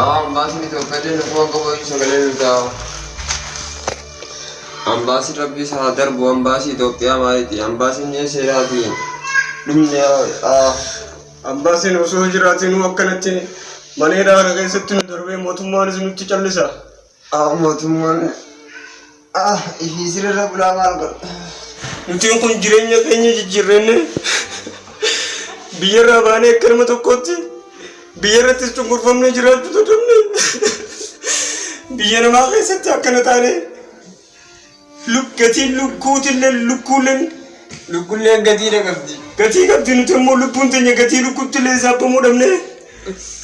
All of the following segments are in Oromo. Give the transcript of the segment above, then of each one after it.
Awaa ambaasiin Itoophiyaa nu kuwan qabu iyyuu sagalee nu taa'u. Ambaasiin rabbii isaa haa darbu ambaasii Itoophiyaa maaliiti ambaasiin ni seeraati dhumni haa Ambaasiin osoo jiraatinuu akkanatti maneedhaa kana keessatti nu darbee mootummaanis nutti callisa. A mootummaan A ishii sirrirra bulaa maal godha? Nutiin kun jireenya keenya jijjiirrenne biyyarraa baanee akka nama tokkootti biyyarrattis cunqurfamnee jiraachuu dadhabne biyya namaa keessatti akkana taanee Luk gatiin lukkuutille lukkuulleen lukkulleen gatiidha qabdi. gatii qabdi nuti immoo lubbuun teenya gatii lukkuuttillee saabamuu dhabne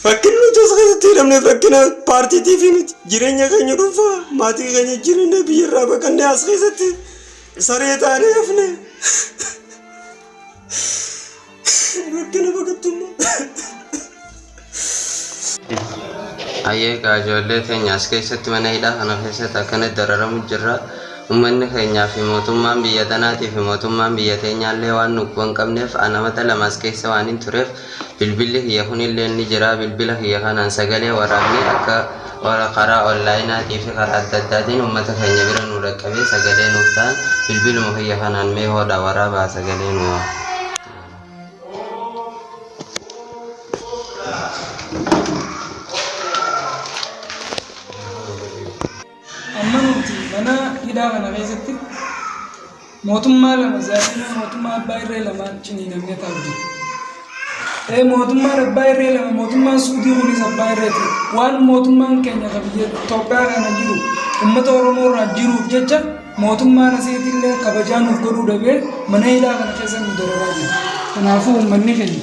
rakkin nuti as keessatti hidhamne rakkina paartiitiif miti jireenya keenya dhuunfaa maatii keenya jireenya biyyarraa baqannee as keessatti saree taanee hafne. Rakkina baqattummaa. Ayyee kaa ijoollee keenya as keessatti mana hidhaa kana keessatti akkana dararamu jirra. Uummanni keenyaa fi mootummaan biyya tanaatii fi mootummaan biyya teenyaallee waan nuuf hin qabneef anamata lama as keessa waan hin tureef bilbilli kiyya kunillee ni jira bilbila kiyya kanaan sagalee waraabnee akka Warra karaa onlaayinaatii fi karaa adda addaatiin uummata keenya bira nu dhaqqabee sagalee nuuf ta'an bilbiluma kiyya kanaan mee hoodhaa waraabaa sagalee nu waa. Amma nuti mana hidhaa kana keessatti Mootummaa lama Zaalimaa mootummaa abbaa irree lamaan ciniinamee taa'u jira. Ee mootummaan abbaa irree lama mootummaan suudii kunis abbaa irree ti. Waan mootummaan keenya kan biyya Itoophiyaa kana jiru uummata Oromoo irraa jiruuf jecha mootummaan asiitti illee kabajaa nuuf godhuu dhabee mana hidhaa kana keessa nu dararaa jira. Kanaafuu uummanni keenya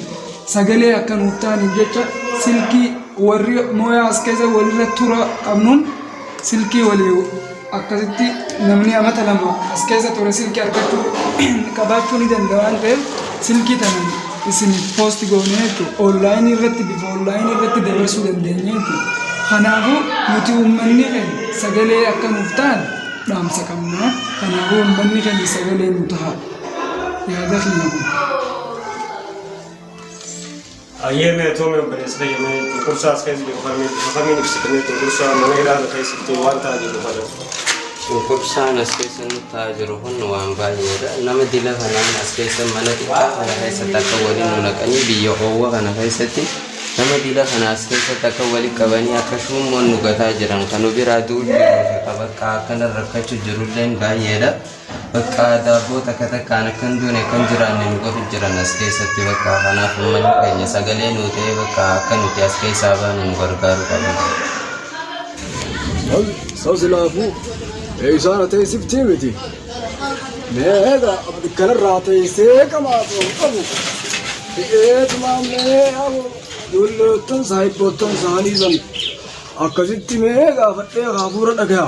sagalee akka nuuf ta'aniif jecha silkii warri mooyaa as keessa walirra tura qabnuun silkii walii akkasitti namni amata lama as keessa ture silkii argachuu qabaachuu ni danda'a waan ta'eef silkii tana isiniif poosti goonee jechuudha. Oonlaayinii irratti bifa oonlaayinii irratti dabarsuu dandeenya jechuudha. Kanaafuu nuti uummanni keenya sagalee akka nuuf ta'an dhaamsa qabna. Kanaafuu uummanni keenya sagalee nu ta'a. Yaada keenya kun. Hayyee Meetoomi obboleessa kiyya mee cunqursaa as keessa jiru kan bifa kamiin ibsita mee cunqursaa mana hidhaa nu keessa jirtu waan ta'aa jiru kana. Cunqursaan as keessa nu ta'aa jiru kun waan baay'eedha. Nama dila kanaan as keessa mana xiqqaa kana keessatti akka waliin nu naqanii biyya oowwa kana keessatti nama dila kana as keessatti akka wali qabanii akka shuummoon nu gataa jiran kan nu biraa du'u jiru fi qabakkaa akkanan rakkachuu jirulleen baay'eedha. Bakka daabboo takka takkaan akka hin duune akka hin jiraanne nu godhu jiran as keessatti bakka kanaaf ummanni keenya sagalee nuu ta'ee bakka akka nuti as keessaa baanu nu gargaaru qabna. Sal, sal silaafuu eeysaara teessiftii miti. Mee eega kanarraa teessee qamaatu qabu. Eetuma mee abu dulloottan saahibboottan saanii san akkasitti mee gaafadhee hafuura dhagaya.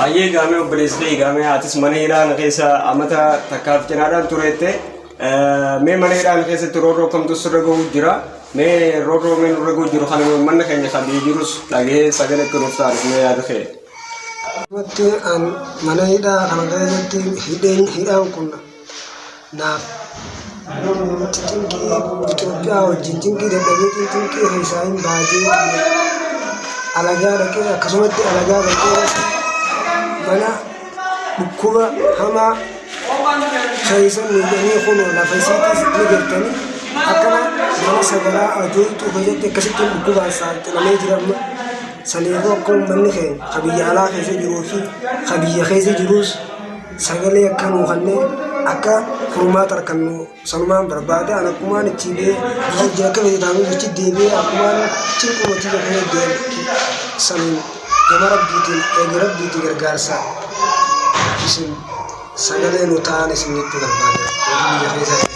Hayyee gaamee obboleessitee gaamee atis mana hidhaa na keessa amata takkaaf cinaadhaan tureette mee mana hidhaa na keessatti roorroo kamtu sirra gahu jira mee roorroo mee nurra gahu jiru kana manna keenya kan biyya jirus dhagee sagalee akka nuuf taatu mee yaada kee. Wanti an mana hidhaa kana keessatti hidheen hidhaan kun naaf nutti cinqii Itoophiyaa wajjin cinqii dadhabeetiin cinqii keessaa hin baatee alagaa dhaqee akkasumatti alagaa dhaqee mana dhukkuba hamaa keessa miidhamee kun lafa isiitis ni jirtanii akkana nama sagaraa ajooltuu keessatti akkasitti dhukkubaan saaxilamee jira amma saniifuu akka uummanni keenya ka biyya alaa keessa jiruu fi ka biyya keessa jiruus Sagalee akka nuu kannee akka furmaata arkannu sanumaan barbaada an akkumaan itti bee biyya itti akka fete taanuu jechi deebi'ee akkumaan cinquu matii jafee deebi'e saniin gama rabbiitiin eegi rabbiitii gargaarsa isin sagalee nu ta'an isin jechuu barbaada warri biyya keessaa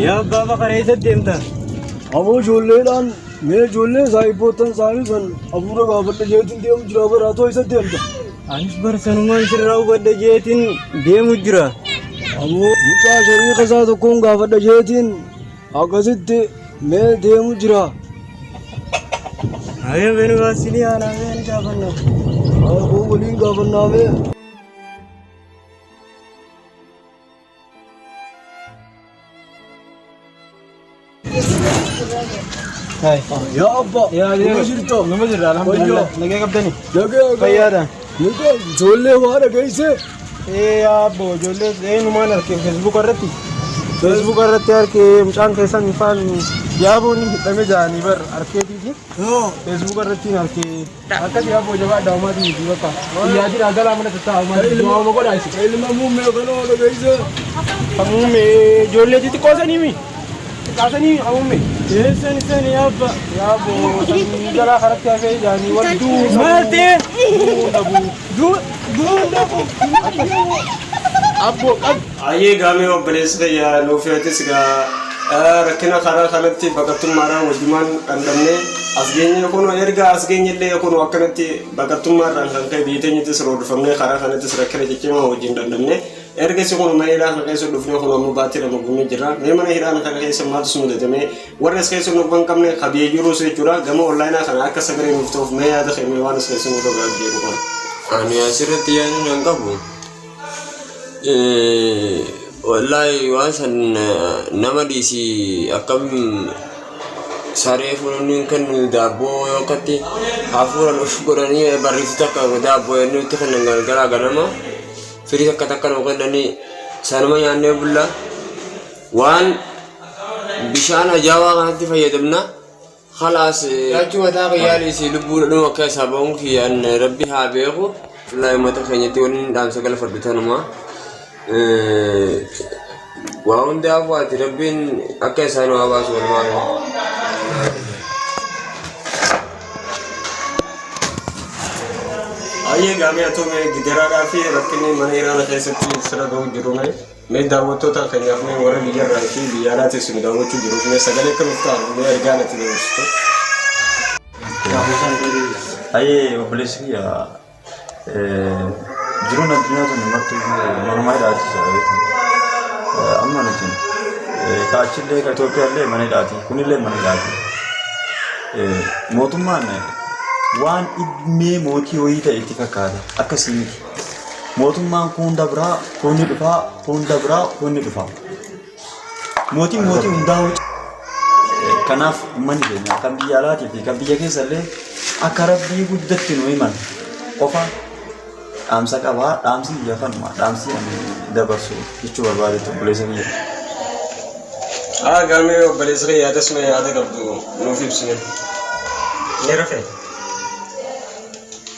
Yaa abbaa bakara eessa deemta? Aboo ijoolleedhaan mee ijoollee saayibboottan isaanii san abuura gaafadha jeetiin deemu jira baraa too eessa deemta? Anis barsanumaan sirraa hubadha jeetiin deemu jira. Aboo mucaa shariika isaa tokkoon gaafadha jeetiin akkasitti mee deemu jira. Ayee beni baasinii aanaa mee ni gaafanna. Aboo waliin gaafannaa mee. Yaa abbaa. Yaa Nama jirtoo. Nama jirra alhamdulillah. Wayyoo. Nagaa qabdani. Nagaa gaa. Fayyaadha. Nagaa ijoollee waa dhageessee. Ee yaa abbo ijoollee eenyumaan arge feesbuuka irratti. Feesbuuka irratti arge mucaan keessan ifaan yaaboon hidhame jaanii bar arkeetiiti. Feesbuuka irratti arge. Akkasii abboo jabaadha uumaatii miti bakka. Guyyaa jira galaa mana tattaa'aa uumaatii du'aa uuma godhaa isin. Ilma muummee kana oolu beeysa. Kan muummee ijoollee xixiqqoo sanii mi? Xiqqaa sanii kan muummee. Eessan isaan yaabba. Yaaboo sanii jalaa karatti hafee jaanii wal du'uu. Maal ta'e? Du'uu dhabuu. Du'uu dhabuu. Abboo qabdi. Hayyee egaa mee obboleessi kiyya nuufi atis egaa rakkina karaa kanatti baqattummaadhaan wajjumaan dhandhamne as geenye kunoo erga as geenyellee kunoo akkanatti baqattummaarraan kan ka'e biyya teenyattis roorrifamnee karaa kanattis rakkina ciccimaa wajjin dhandhamne ergasi kunoo mana hidhaa kana keessa dhufnee kunoo amma baatii lama guunnee jirra mee mana hidhaa kana keessa maaltu si mudate mee warri as keessa nu hin qabne ka biyya jiruus jechuudha gama onlaayinaa kana akka sagalee nuuf ta'uuf mee yaada kee mee waan as keessa nu irra gahaa jiru kana. Ani asirratti yaadni nan qabu Wallaahi waan san nama dhiisi akkam saree fuunni hin kennu daabboo yoo akkatti hafuuran of godhanii barreessi takka daabboo inni itti kennan galgalaa ganama firii takka takka nuu kennanii sanuma nyaannee bulla waan bishaan ajaawaa kanatti fayyadamna Khalaas nyaachuu mataa kiyyaa dhiisi lubbuu dhadhuma keessaa ba'uun kiyya an rabbi haa beeku wallahi uummata keenyatti waliin dhaamsa galfadhu tanuma waa hundaa kuwaati rabbiin akka isaan waa baasu walumaa gala. Ayyee gaamee atoomee gidiraadhaa fi rakkinni mana hiraana keessatti sira ga'u jiru mee. Mee daawwattootaan keenyaaf mee warri biyyarraa fi biyya alaa teessu nu daawwachuu jiruuf mee sagalee akka nuuf ta'an mee ergaa natti dabarsitu. Ayyee obboleessi kiyya jiruun addunyaa tuni marti normaa hidhaati jiraatu. Amma nuti kaachillee ka Itoophiyaallee mana hidhaati kunillee mana hidhaati. Mootummaan waan dhibmee mootii horii ta'e itti fakkaata akkasii miti. Mootummaan kuun dabraa, kuun ni dhufaa, kuun dabraa, kuun ni dhufaa. Mootiin mootii hundaa hojii. Kanaaf uummanni keenya kan biyya alaatii fi kan biyya keessa illee akka rabbii guddatti nu himan qofa dhaamsa qabaa dhaamsi biyya kanuma dhaamsi ani dabarsu jechuu barbaade obboleessa biyya. Haa gaamee obboleessa kee yaada suma yaada qabdu nuuf ibsine. Ni rafe.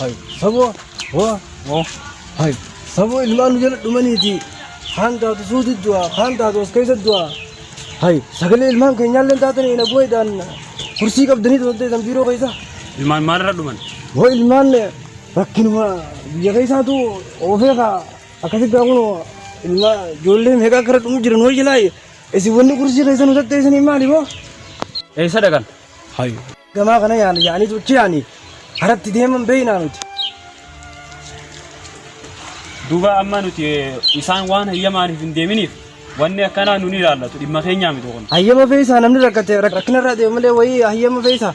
Hai, saboo, waa, waa, hai, saboo ilmaan nu jala dhumaniiti. Kaan taatu suuti du'a, kaan taatu as keessa du'a. Hai, sagalee ilmaan keenyaallee taatan ina bu'eedhaan kursii qabdanii tolteetan biiroo keessa. Ilmaan maalirra dhuman? Hoo ilmaan rakkinuma biyya keessaatu oofee kaa akkasitti haa kunoo ilmaa ijoollee meeqa akka irra dhumu jiran hoo jalaa Isin wanni kursii keessa nu tatteessanii maali boo? Eessa dhaqan? Hayu. Gamaa kana yaana yaanii tuchi yaanii haratti deeman beeynaa nuti. Duuba amma nuti isaan waan hayyamaaniif hin deeminiif wanni akkanaa nuni ilaallatu dhimma keenyaa miti kun. Hayyama feesaa namni rakkate rakkinarraa deemu malee wayii hayyama feesaa.